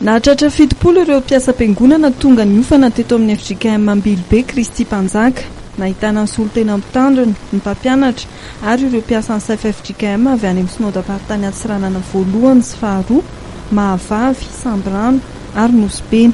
Nahatratra fitopolo ireo mpiasam-piangonana tonga niofana teto amin'ny fjkm Ambilobe Kristy Mpanjaka. Nahitana ny solontena mpitandrina, ny mpampianatra ary ireo mpiasan'ny safa fjkm avy any amin'ny Synodamparitany Antsiranana Voalohany sy Faharoa, Mahavavy, Sambirano ary Nosy Beny.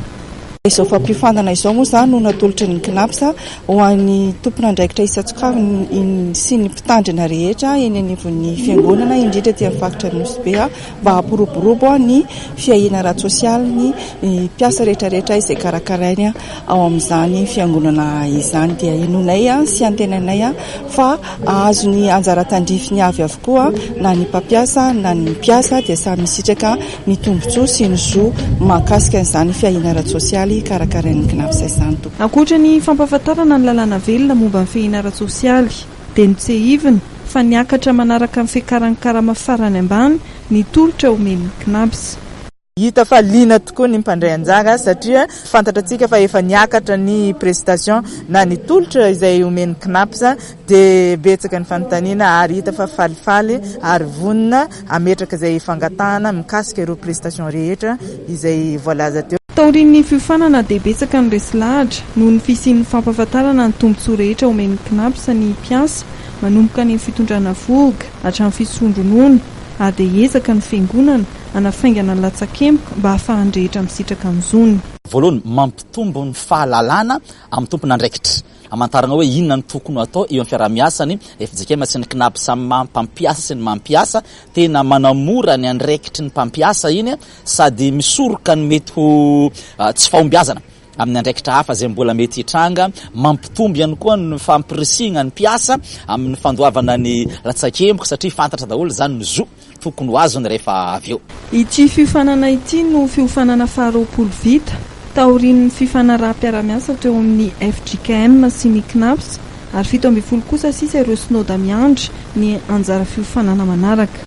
Izao fampiofanana izao moa izany no natolotry ny Cnaps ho an'ny tompon'andraikitra isan-tsokajiny sy ny mpitandrina rehetra eny anivon'ny fiangonana indrindra aty amin'ny faritra Nosy Be. mba hampiroborobo ny fiahiana ara-tsosialy ny mpiasa rehetrarehetra izay karakarainy ao amin'izany fiangonana izany. Dia henoinay sy antenainay fa hahazo ny anjara tandrifiny avy avokoa na ny mpampiasa na ny mpiasa dia samy hisitraka ny tombontsoa sy ny zo mahakasika an'izany fiahiana ara-tsosialy karakarain'ny Cnaps izany. Ankoatra ny fampahafantarana ny lalàna velona momba ny fiahiana ara-tsosialy, dia notsehiviny fa niakatra manaraka ny fiakaran'ny karama farany ambany ny tolotra omen'ny CNABS. Hita fa liana tokoa ny mpandray anjara satria fantatratsika fa efa niakatra ny prestation na ny tolotra izay omen'ny CNABS dia betsaka ny fanontaniana ary hita fa falifaly ary vonona hametraka izay fangatahana mikasika ireo prestation rehetra izay voalaza teo. Taorian'ny fiofanana dia betsaka ny resy lahatra noho ny fisian'ny fampahafantarana ny tombontsoa rehetra omen'ny Cnaps ny mpiasa manomboka any amin'ny fitondrana vohoka hatramin'ny fisondronoana ary dia hiezaka ny fiangonana hanafaingana ny latsakemboka mba hahafahan'ny rehetra misitraka ny zony. Voalohany, mampitombo ny fahalalana amin'ny tompon'andraikitra. Hamantarana hoe inona no tokony ho atao eo amin'ny fiaraha-miasa ny fjkm sy ny Cnaps amin'ny maha mpampiasa sy ny maha mpiasa. Tena manamora ny andraikitry ny mpampiasa iny. sady misoroka ny mety ho tsy fahombiazana amin'ny andraikitra hafa izay mbola mety hitranga, mampitombo ihany koa ny fampirisihina ny mpiasa amin'ny fandoavana ny latsakemboka satria fantatra daholo izany ny zo tokony ho azony rehefa avy eo. Ity fiofanana ity no fiofanana faharoapolo vita taorian'ny fifanaraham-piarahamiasa teo amin'ny fjkm sy ny Cnaps ary fito ambin'ny folo kosa sisa ireo sinoda miandry ny anjara fiofanana manaraka.